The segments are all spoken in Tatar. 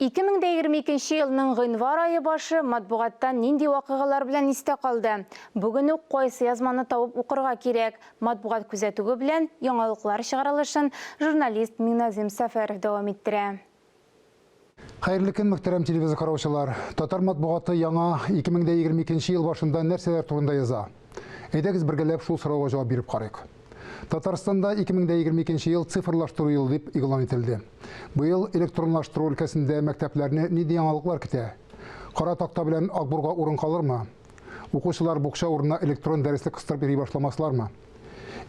2022 нче елның гыйнвар ае башы матбугатта нинди вакыйгалар белән истә калды? Бүген үк кайсы язманы табып укырга кирәк? Матбугат күзәтүе белән яңалыклар чыгарылышын журналист Миңназыйм Сәфәров дәвам иттерә. Хәерле көн, мөхтәрәм телевизор караучылар! Татар матбугаты яңа 2022 нче ел башында нәрсәләр турында яза? Әйдәгез бергәләп шул сорауга җавап биреп карыйк. Татарстанда 2022 ел цифрлаштыру елы дип игълан ителде. Быел электронлаштыру өлкәсендә мәктәпләрне нинди яңалыклар көтә? Кара такта белән акбурга урын калырмы? Укучылар букча урынына электрон дәреслек кыстырып йөри башламаслармы?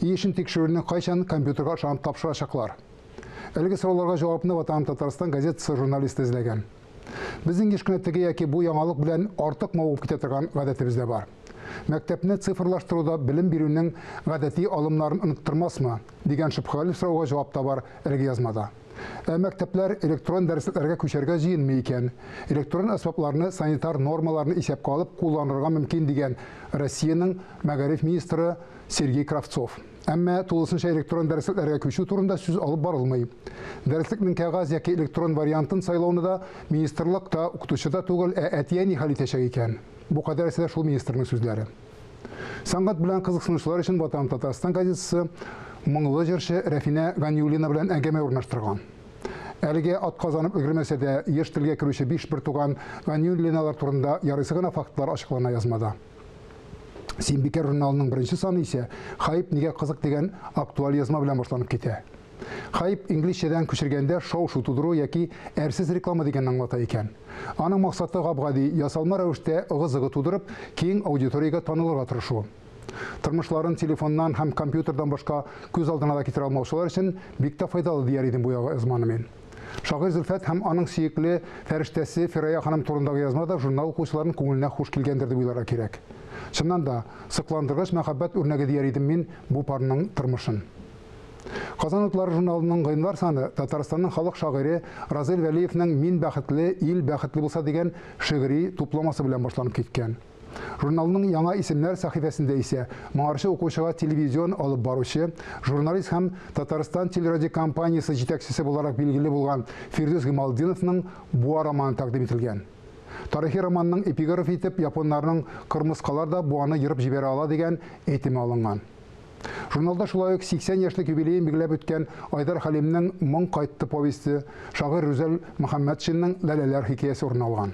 И эшен тикшерүне кайчан компьютерга ышанып тапшырачаклар? Әлеге сорауларга җавапны Ватаным Татарстан газетасы журналисты эзләгән. Безнең еш кына теге яки бу яңалык белән артык мавыгып китә торган гадәтебез дә бар. Мәктәпне цифрлаштыруда белем бирүнең гадәти алымнарын оныттырмасмы, дигән шөбһәле сорауга җавап та бар әлеге язмада. Ә мәктәпләр электрон дәреслекләргә күчәргә җыенмый икән, электрон әсбапларны санитар нормаларны исәпкә алып кулланырга мөмкин, дигән Россиянең мәгариф министры Сергей Кравцов. Әмма тулысынча электрон дәреслекләргә күчү турында сүз алып барылмый. Дәреслекнең кәгазь яки электрон вариантын сайлауны да министрлык та, укытучы да түгел, ә әти-әни хәл итәчәк икән. Бу кадәресе дә шул министрның сүзләре. Сәнгать белән кызыксынучылар өчен Ватаным Татарстан газетасы моңлы җырчы Рәфинә Ганиуллина белән әңгәмә урнаштырган. Әлегә ат казанып өлгермәсә дә, еш телгә керүче биш бертуган Ганиуллиналар турында ярыйсы гына фактлар ачыклана язмада. Синбикә журналының беренче саны исә Хайп нигә кызык дигән актуаль язма белән башланып китә. Хайп инглизчәдән күчергәндә шау-шу тудыру яки әрсез реклама дигәнне аңлата икән. Аның максаты гап-гади, ясалма рәвештә ыгы-зыгы тудырып, киң аудиториягә танылырга тырышу. Тормышларын телефоннан һәм компьютердан башка күз алдына да китерә алмаучылар өчен бик тә файдалы, дияр идем бу язманы мин. Шагыйрь Зөлфәт һәм аның сөекле фәрештәсе Фирая ханым турындагы язма да журнал укучыларының күңеленә хуш килгәндер дип уйларга кирәк. Чыннан да, сокландыргыч мәхәббәт үрнәге дияр идем мин бу парның тормышын. Казан утлары журналының гыйнвар саны Татарстанның халык шагыйре Разил Вәлиевнең Мин бәхетле, ил бәхетле булса дигән шигъри тупламасы белән башланып киткән. Журналның яңа исемнәр сәхифәсендә исә моңарчы укучыга телевизион алып баручы, журналист һәм Татарстан телерадиокомпаниясе җитәкчесе буларак билгеле булган Фирдүс Гималтдиновның Буа романы тәкъдим ителгән. Тарихи романның эпиграф итеп японнарның Кырмыскалар да буаны ерып җибәрә ала дигән әйтеме алынган. Журналда шулай ук 80 яшьлек юбилеен билгеләп үткән Айдар Хәлимнең Моң кайтты повесте, шагыйрь Рүзәл Мөхәммәтшинның Ләләләр хикәясе урын алган.